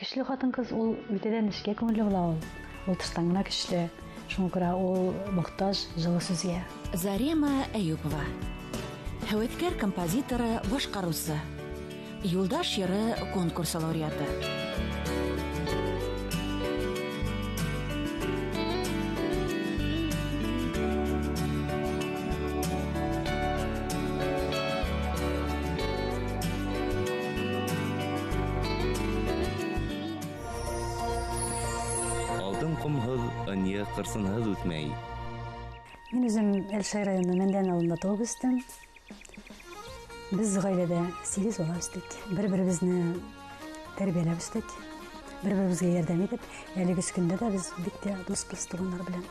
Көчле хатын-кыз ул үтәдән нечкә күңелле була ул. Ул тыштан гына көчле. Шуңа күрә ул мохтаж җылы сүзгә. Зарема Әюпова. Һәвәскәр композиторы, башкаручы. Юлдаш җыры конкурсы лауреаты. Алтын комһыз, ыньы, кырсынһыз үтмәй. Мин үзем Әлшәй районы Мәндән авылында туып үстем. Без гаиләдә 8 бала үстек. Бер-беребезне тәрбияләп үстек. Бер-беребезгә ярдәм итеп, әлеге көндә дә без бик тә дус туганнар белән.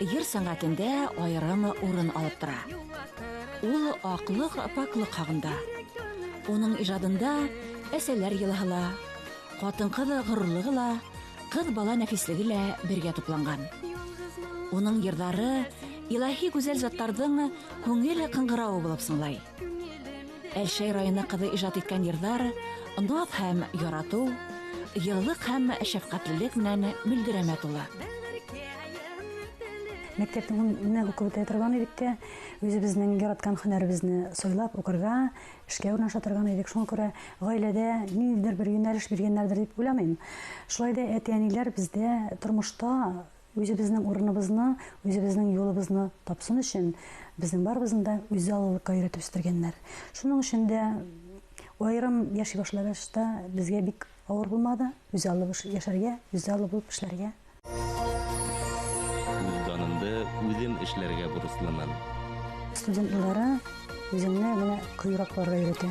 җыр сәнгатендә аерым урын алып тора. Ул аклык, пакьлык хагында. Уның иҗадында әсәләр елаһы ла, хатын-кыз горурлыгы ла, кыз бала нәфислеге лә бергә тупланган. Уның җырлары илаһи гүзәл затларның күңел кыңгыравы булып сыңлай. Әлшәй районы кызы иҗат иткән йырлар наз һәм ярату, еллык һәм шәфкатьлелек белән мөлдерәмә тула. Мәктәптә гомумән укып үтә торган идек тә, үзебезнең яраткан һөнәребезне сайлап укырга, эшкә урнаша торган идек. Шуңа күрә гаиләдә ниндидер бер юнәлеш биргәннәрдер дип уйламыйм. Шулай да әти-әниләр бездә тормышта Үзебезнең урыныбызны, үзебезнең юлыбызны тапсын өчен, безнең барыбызны да үзаллылыкка өйрәтеп үстергәннәр. Шуның өчен дә аерым яши башлагач та безгә бик авыр булмады, үзаллы булып яшәргә, үзаллы булып эшләргә. Үз данымды үзем эшләргә бурычлымын. Студент еллары үзеңне менә кыюрак булырга өйрәтә.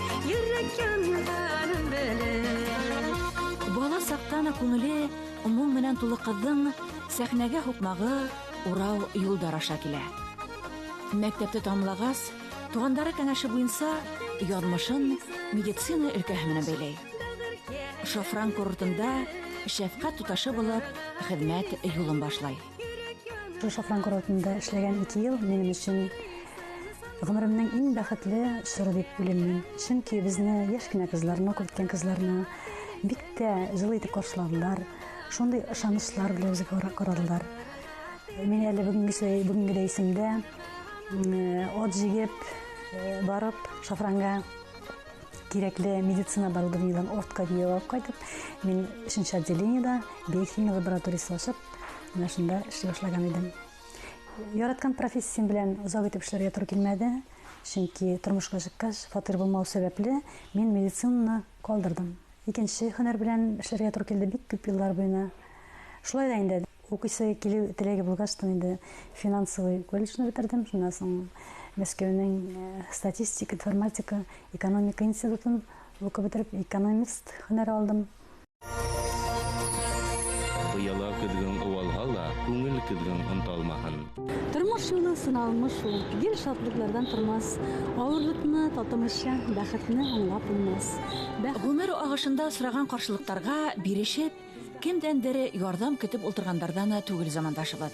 Йөрәк янганын белеп. Бала сактан ук күңеле моң белән тулы кызның сәхнәгә һукмагы урау юлдар аша килә. Мәктәпте тәмамлагач, туганнары кәңәше буенча язмышын медицина өлкәһе белән бәйләй. Шафран курортында шәфкать туташы булып хезмәт юлын башлай. Шафран курортында эшләгән ике ел минем өчен гомеремнең иң бәхетле чоры дип уйлыйм мин. Чөнки безне яшь кенә кызларны, күркән кызларны бик тә җылы итеп каршыладылар. Шундый ышанычлар белән безгә карадылар. Мин әле бүгенгесе бүгенге рәисемдә от җигеп барып шафранга кирәкле медицина оборудованиеларын ортка бию алып кайтып, мин өченче отделениедә биохимия лабораториясе ачып, менә шунда эшли башлаган идем. Яраткан профессиям белән озак итеп эшләргә туры килмәде, чөнки тормышка чыккач, фатир булмау сәбәпле, мин медицинаны калдырдым. Икенче һөнәр белән эшләргә туры килде бик күп еллар буена. Шулай да инде Укыйсы килү теләге булгач та инде финансовый колледжны бетердем, шуннан соң Мәскәүнең статистика, информатика, экономика институтын укып бетереп, экономист һөнәре алдым. Пыяла көзгең уалһа ла, күңел көзгең онталмаһын. Тормыш юлы сыналмы шул, гел шатлыклардан тормас, авырлыкны татымыйча, бәхетне аңлап булмас. Гомер агышында осраган каршылыктарга бирешеп, Кемдәндер ярдәм көтеп ултыргандардан да түгел замандашыбыз.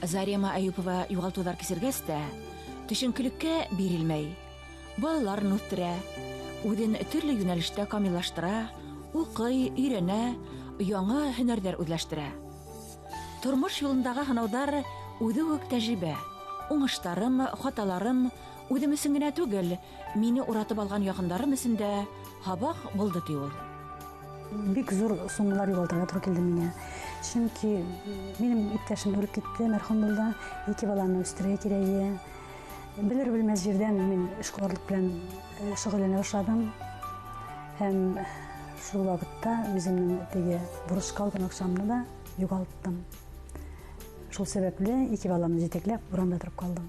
Зарема Әюпова югалтулар кичергәч тә, төшенкелеккә бирелмәй, балаларын үстерә, үзен төрле юнәлештә камиллаштыра, укый, өйрәнә, яңа һөнәрләр үзләштерә. Тормыш юлындагы сынаудар үзе үк тәҗрибә. Уңышларым, хаталарым үзем өчен генә түгел, Мине уратып алган якындарым өчен дә һабак булды, ди ул. Бик зур суммалар югалтырга туры килде миңа. Чөнки минем иптәшем үлеп китте, мәрхүм булды. Ике баланы үстерергә кирәк иде. Белер белмәс җирдән мин эшкуарлык белән э, шөгыльләнә башладым. Һәм шул вакытта үземнең теге бурычка алган акчамны да югалттым. Шул сәбәпле ике баламны җитәкләп урамда торып калдым.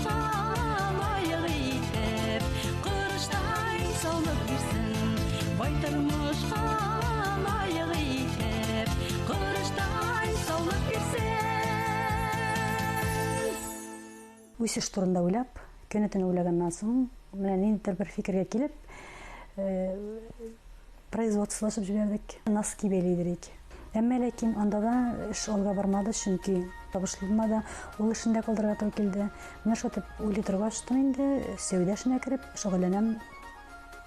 үсеш турында уйлап көне-төне уйлаганнан соң менә ниндидер бер фикергә килеп э, Производстволашып җибәрдек. Носки бәйли идек. Әмма ләкин анда да эш алга бармады, чөнки табышлы булмады. Ул эшен дә калдырырга туры килде. Менә шул итеп уйлый торгач та инде сәүдә эшенә кереп шөгыльләнәм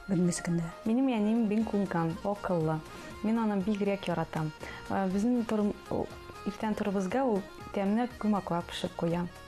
бүгенге көндә. Минем әнием бик күнкәм, акыллы. Мин аны бигрәк яратам. Э, безнең иртән торыбызга ул тәмле күмәкләр пешеп куя.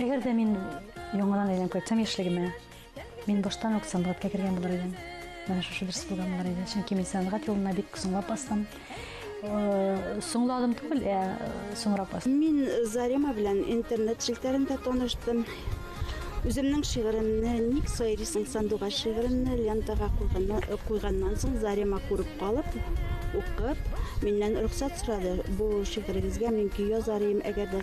Әгәр дә мин яңадан әйләнеп кайтсам яшьлегемә, мин баштан ук сәнгатькә кергән булыр идем. Менә шушы дөрес булган булыр иде. Чөнки мин сәнгать юлына бик соңлап бастым. Э, соңладым түгел, ә э, соңрак бастым. Мин Зарима белән интернет челтәрендә таныштым. Үземнең шигыремне Ник сайрисың сандуга шигыремне лентага куйганнан э, соң Зарима күреп калып, укып, миннән рөхсәт сорады. Бу шигырегезгә мин көй язар идем, әгәр дә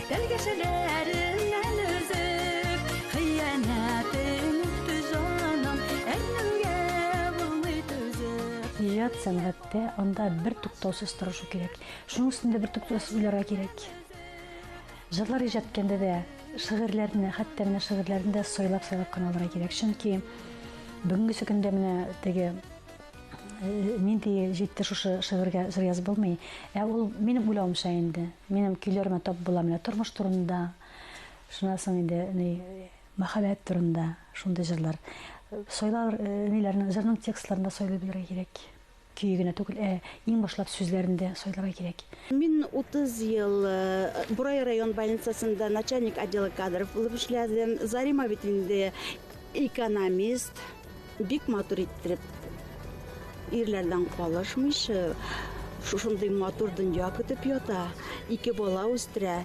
Тәлгәшәләреңнән өзеп, хыянәтең үтте җаным, әрнүгә булмый түзеп. Иҗат, сәнгатьтә анда бертуктаусыз тырышу кирәк. Шуның өстендә бертуктаусыз уйларга кирәк. Җырлар иҗат иткәндә дә, шигырьләрне, хәтта менә шигырьләрне дә сайлап-сайлап кына алырга кирәк. Чөнки бүгенге көндә менә теге нинди җитте шушы шигырьгә җыр язып булмый. Ә ул минем уйлавымча инде. Минем көйләремә тап була менә тормыш турында, шуннан соң инде ни мәхәббәт турында шундый җырлар. Сойлар ниләрне җырның текстларында сойлый белергә кирәк. Көе генә түгел, ә иң башлап сүзләрендә сойларга кирәк. Мин 30 ел Борай район больницасында начальник отдела кадров булып эшләдем. Зарима бит инде экономист. Бик матур иттереп, ирләрдән калышмыйча, шушындый матур дөнья көтеп ята, ике бала үстерә.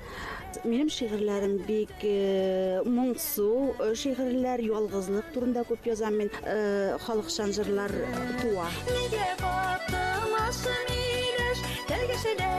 Минем шигырьләрем бик э, моңсу э, шигырьләр, ялгызлык турында күп язам мин, э, халыкчан җырлар туа. Нигә катымасын миләш, тәлгәшәләр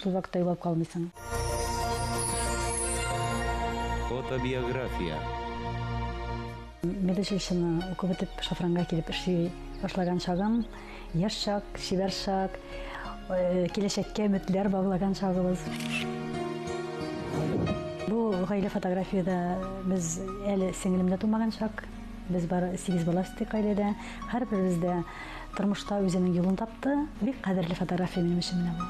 Шул вакытта югалып калмыйсың. Фотобиография. Медучилищены укып бетеп, шафранга килеп эшли башлаган чагым, яшь чак, чибәр чак, киләчәккә өметләр баглаган чагыбыз. Бу гаилә фотографиядә без әле сеңелем дә тумаган чак. Без бары сигез бала үстек гаиләдә. Һәрберебез дә Тормышта үзенең юлын тапты. Бик кадерле фотография минем өчен менә бу.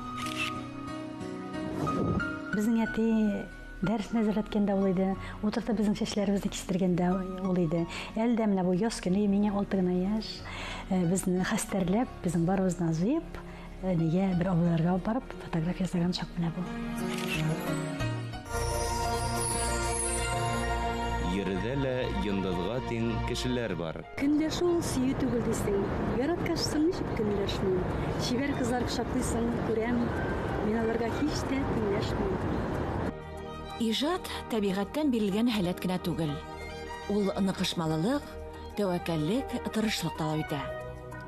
Безнең әти дәрес нәзерләткәндә ул иде. Утыртып безнең чәчләребезне кистергәндә ул иде. Әле дә менә бу яз көне, миңа алты гына яшь, безне хәстәрләп, безнең барыбызны җыеп, Әнигә бер авылларга алып барып фотография ясаган чак менә бу. Йөрдә лә йондызга тиң кешеләр бар. Көнләшү ул сөю түгел дисең. Яраткач соң ничек көнләшмим? Чибәр кызлар кочаклыйсың, күрәм. Мин аларга һич тә тиңләшмим. Иҗат табигатьтән бирелгән һәләт кенә түгел. Ул ныкышмалылык, тәвәккәллек, тырышлык таләп итә.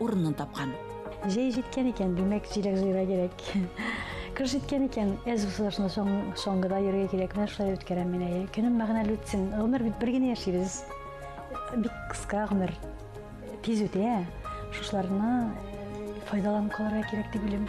урынын тапкан. Җәй җиткән икән, димәк, җиләк җыйырга кирәк. Кыш җиткән икән, әз усылышны соңгыда йөрергә кирәк. Менә шулай үткәрәм мин әйе. Көнем мәгънәле үтсен. Гомер бит бер генә яшибез. Бик кыска гомер. Тиз үтә. Шушларны файдаланып калырга кирәк дип уйлыйм.